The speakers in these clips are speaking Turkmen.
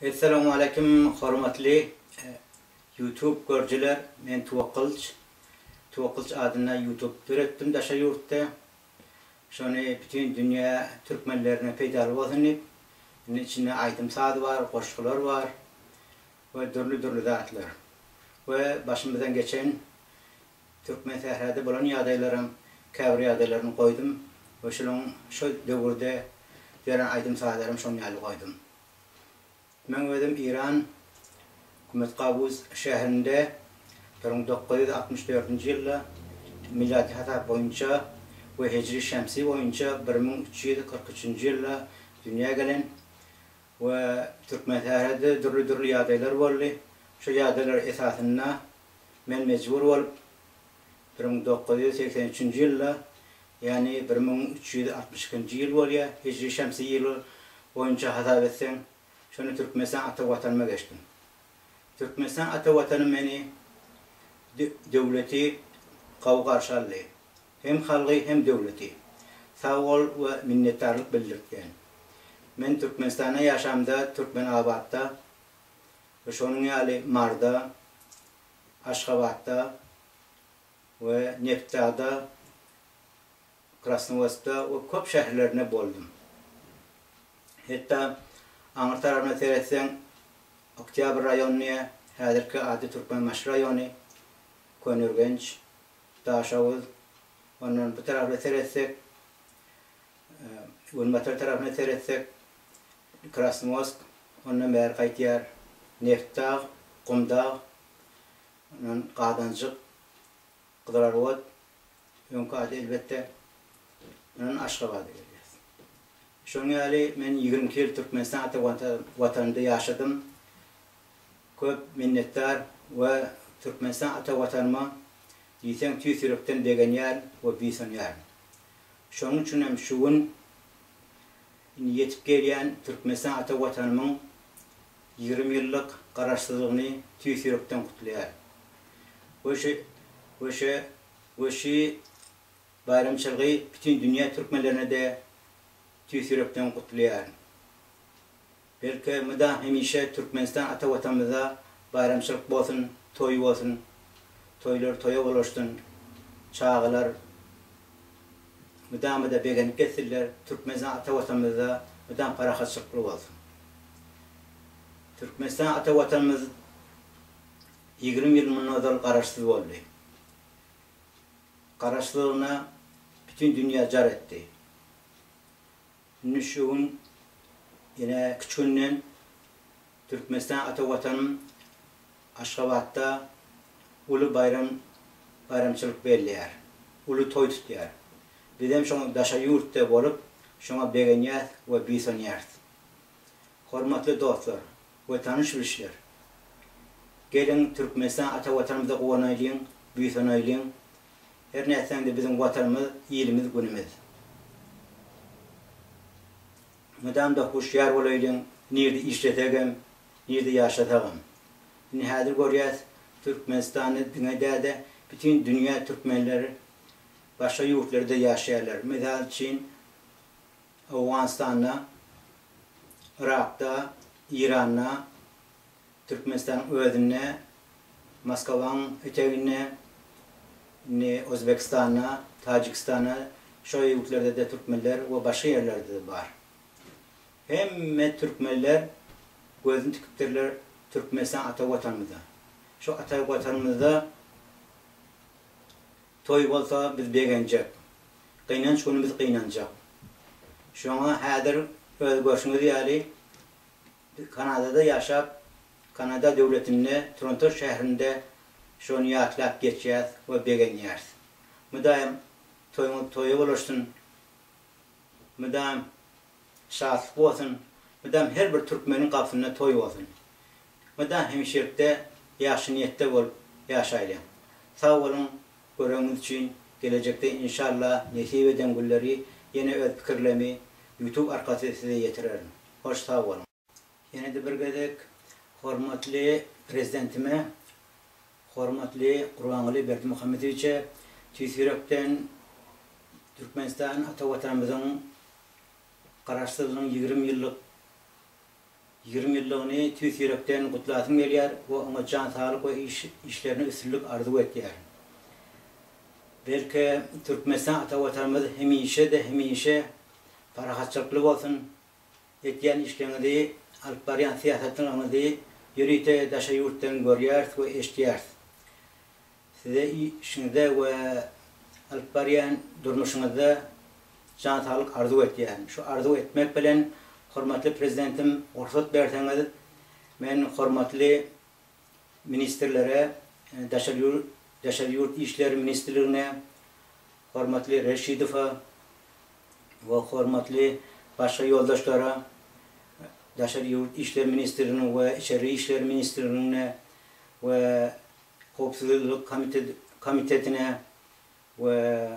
Essalamualeýkum hormatly YouTube görjiler men Tuwakylç Tuwakylç adynda YouTube döretdim daşary ýurtda şony bütin dünýä türkmenlerine peýdaly bolsun diýip indi içinde aýdym saz bar goşgular bar we dürli dürli zatlar we başymyzdan geçen Türkmensährada bolan ýagdaýlaryň käbir ýagdaýlaryny goýdum we şolaň şol döwürde ýören aýdym-sazlarymy şonuň ýaly goýdum. Meň özüm Iran Kumet Gabuz şäherinde bir müň dokuz ýüz altmyş dördünji ýylda, miladi hasap boýunça, we hijri şemsi boýunça bir müň üç ýüz kyrk üçünji ýylda dünýä gelen we Türkmensährada dürli-dürli ýagdaýlar boldy. Şol ýagdaýlar esasynda Men mejbur bolup, bir müň dokuz ýüz segsen üçünji ýylda, ýagny bir müň üç ýüz altmyş ikinji ýyl bolýar, hijri-şemsi ýyly boýunça hasap etseň, şonda Türkmenistan ata Watanyma geçdim. Türkmenistan ata Watanym meni döwleti gowy garşy aldy. Hem halgy, hem döwleti. Sag bol we minnetdarlyk bildirtgen. Men Türkmenistanda ýaşamda Türkmenabatda we şonuň ýaly Maryda, Aşgabatda we Nebtdagda, Krasnowodskda we köp şäherlerinde boldum. Hetda aňyr tarabyna seretseň, Oktýabr raýonyny, häzirki ady Türkmenbaşy raýony, Köneürgenç, Daşoguz, ondan bu taraplara seretsek, günbatar tarapyna seretsek, Krasnowosk, ondan bäri gaýtýar, Neftdag, Gumdag, ondan Gazanjyk, Gyzylarwod, öňki ady elbetde, ondan Aşgabada gelýär. Şonuň ýaly men ýigrimi iki ýyl Türkmenistan ata Watanymda ýaşadym. Köp minnetdar we Türkmenistan ata Watanyma diýseň tüýs ýürekden begenýärin we buýsanýaryn. Şonuň üçin hem şu gün Indi ýetip gelýän Türkmenistan ata Watanymyň ýigrimi ýyllyk Garaşsyzlygyny tüýs ýürekden gutlaýar we şu we şu we şu baýramçylgy bütin dünýä türkmenlerini-de tüýs ýürekden gutlaýaryn. Belki mydam hemişe Türkmenistan ata watanymyzda baýramçylyk bolsun, toý bolsun, toýlar toýa ulaşsyn, çagalar mydama-da begenip geçsinler, Türkmenistan ata watanymyzda mydam parahatçylykly bolsun. Türkmenistan ata watanymyz ýigrimi ýyl mundan ozal garaşsyz boldy. Garaşsyzlygyna bütin dünýä jar etdi. Indi şu gün ýene üç günden Türkmenistan ata Watanym Aşgabatda uly baýram baýramçylyk belleýär. Uly toý tutýar. Bizem şo daşary ýurtda bolup şoňa begenýäs we buýsanýarys. Hormatly dostlar, we tanyş bilişler. Geliň Türkmenistan ata watanymyza guwanaýlyň, buýsanaýlyň. Her nätseň-de biziň watanymyz, ilimiz, günümiz. Mydamda huşýar bolaýlyň, nirde işlesegem, nirde ýaşasagam. Indi häzir görýäs, Türkmenistanda diňe däde bütin dünýä türkmenleri başga ýurtlarda ýaşaýarlar. Mysal üçin Owganystanda, Yrakda, Eýranda, Türkmenistanyň özünde, Moskwaň eteginde, indi Ozbekistanda, Tajikistanda, şo ýurtlerdede türkmenler we başga ýerlerdede bar. Hemme türkmenler gözüni tikipdirler Türkmenistan ata Watanymyza. Şo ata Watanymyzda Toý bolsa biz begenjek. Gynanç güni biz gynanjak. Şoňa häzir öz görşüňiz ýaly Kanadada ýaşap, Kanada döwletinde Tronto şäherinde şony ýatlap geçýäs we begenýäris. Müdaýym toýuňyz toýa ulaşsyn. Müdaýym şatlyk bolsun. Müdaýym her bir türkmeniň gapysynda toý bolsun. Mydam hemişelikde ýagşy niýetde bolup ýaşaýlyň. Sag boluň göregiňiz üçin gelejekde inşallah nesip eden günleri ýene öz pikirlemi YouTube arkasy size ýetirerin. Hoş sag boluň. Ýene-de bir gezek hormatly Prezidentime, hormatly Gurbanguly Berdimuhamedowiçe tüýs ýürekden Türkmenistan ata Watanymyzyň Garaşsyzlygynyň ýigrimi ýyllyk Ýigrimi ýyllygyny tüýs ýürekden gutlasym gelýär we oňa jan saglyk we işlerine üstünlik arzuw etýärin. Belki, Türkmenistan ata Watanymyz hemişe-de hemişe parahatçylykly bolsun, etýän işleriňizi, alyp barýan syýasatlaryňyzy ýörite daşary ýurtdan görýäris we eşidýäris. Size işiňizde we alyp barýan durmuşyňyzda jan saglyk arzuw etýärin. Şu arzuw etmek bilen, hormatly Prezidentim, rugsat berseňiz, men hormatly ministrlere, Daşary ýurt işleri ministrligine, hormatly Reşidowa we hormatly başga ýoldaşlara Daşary ýurt işleri ministrliginiň we Içeri işler ministrliginiň we Howpsuzlyk komitetine we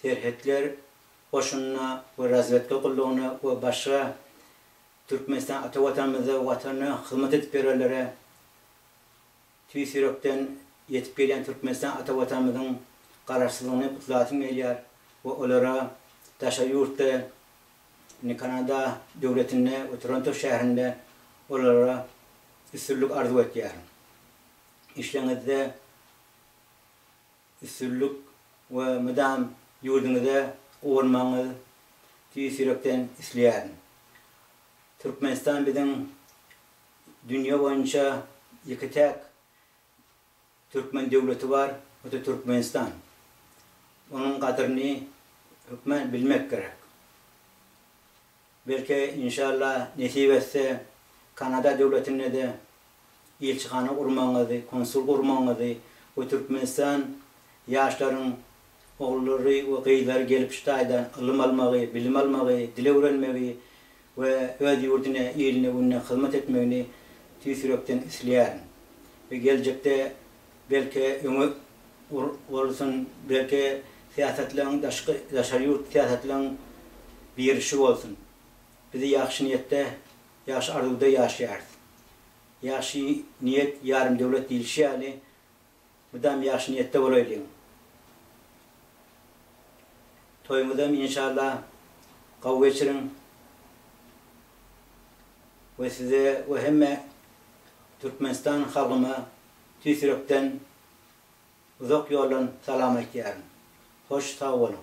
Serhetler goşunyna we Razwedka gullugyna we başga Türkmenistan ata Watanymyzda Watana hyzmat edip ýörenlere tüýs ýürekden ýetip gelýän Türkmenistan ata Watanymyzyň Garaşsyzlygyny gutlasym gelýär we olara daşary ýurtda Indi Kanada döwletinde we Toronto şäherinde olara üstünlik arzuw etýärin. Işleňizde üstünlik we mydam ýurduňyza guwanmagyňyzy tüýs ýürekden isleýärin. Türkmenistan biziň dünýe boýunça ýeke-täk. Türkmen döwleti bar, bu da Türkmenistan. Onuň gadyryny hökman bilmek gerek. Belki, inşallah, nesip etse, Kanada döwletinde-de ilçihana gurmagyňyzy, konsul gurmagyňyzy we Türkmenistan ýaşlaryň ogullary we gyzlary gelip şu taýdan ylym almagy, bilim almagy, dil öwrenmegi we öz ýurduna, iline günde hyzmat etmegini tüýs ýürekden isleýärin we geljekde belki öňe urulsyn, belki syýasatlaryň daşky, daşary ýurt syýasatlaryň birişi bolsun. Biz ýagşy niýetde, ýagşy arzuwda ýaşaýarys. Ýagşy niýet ýarym döwlet diýlişi ýaly, Mydam ýagşy niýetde bolaýlyň. Toýuňyzam inşalla gowy geçiriň we size we hemme Türkmenistan halkyma tüýs ýürekden uzak ýoldan salam aýtýaryn. Hoş sag boluň.